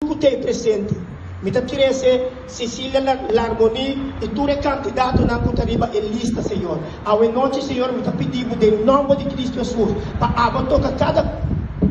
ku t'ei presente. Mi ta trese Cecilia la Larmoni i tur e kandidatonan ku ta riba e lista, Señor. Awenochi, Señor, mi ta pidi Bo den nòmber di Kristu Hesus pa abo toka kada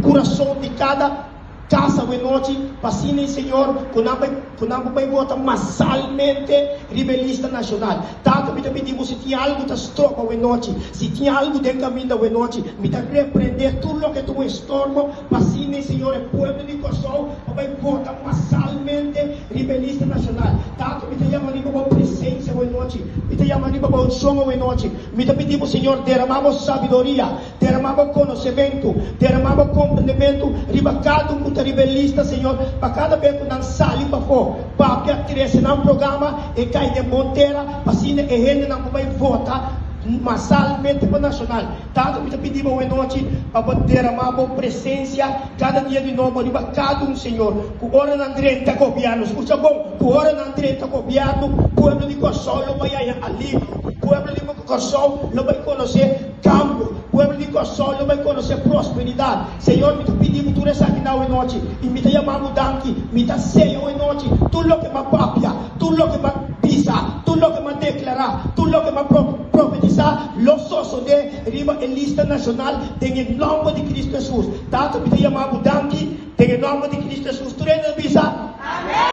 kurason di kada kas awenochi, pa asina, Señor, ku nan bai ku nan por bai bota masalmente riba e lista nashonal. Tata, mi ta pidi Bo si tin algu ta stroba awenochi, si tin algu den kaminda awenochi, mi ta reprende tur loke ta un estorbo, P'así mi, Señor, e pueblo di Kòrsou a bai vota masalmente riba e lista nashonal. Ta ku mi ta yama riba bo presensia awenanochi, mi ta yama riba bo unshon awenanochi. Mi ta pidi bo, Señor, deramá bo sabiduria, deramá bo konosementu, deramá bo komprendementu riba kada un ku ta riba e lista, Señor, pa kada be ku nan sali pafó, papia trese nan programa, e kai den bon tera, p'asina e hendenan ku bai vota masalmente pa nashonal, Tata, mi ta pidi bo awe nochi pa bo deramá bo presensia kada dia di nobo riba kada un, Señor, ku ora nan drenta gobièrnu, skucha bon, ku ora nan drenta gobièrnu, pueblo di Kòrsou lo bai haña alivio, pueblo di Kòrsou lo bai konosé kambio, pueblo di Kòrsou lo bai konosé prosperidat. Señor, mi ta pidi bo tur esaki nan awe nochi, i mi ta yama bo danki, mi ta seña awe nochi tur loke m'a papia, Tur loke m'a bisa, tur loke m'a deklará, tur loke m'a profetisá lo sosodé riba e lista nashonal den e nòmber di Kristu Hesus. Tato, mi ta yama bo danki den e nòmber di Kristu Hesus. Tur hende ta bisa.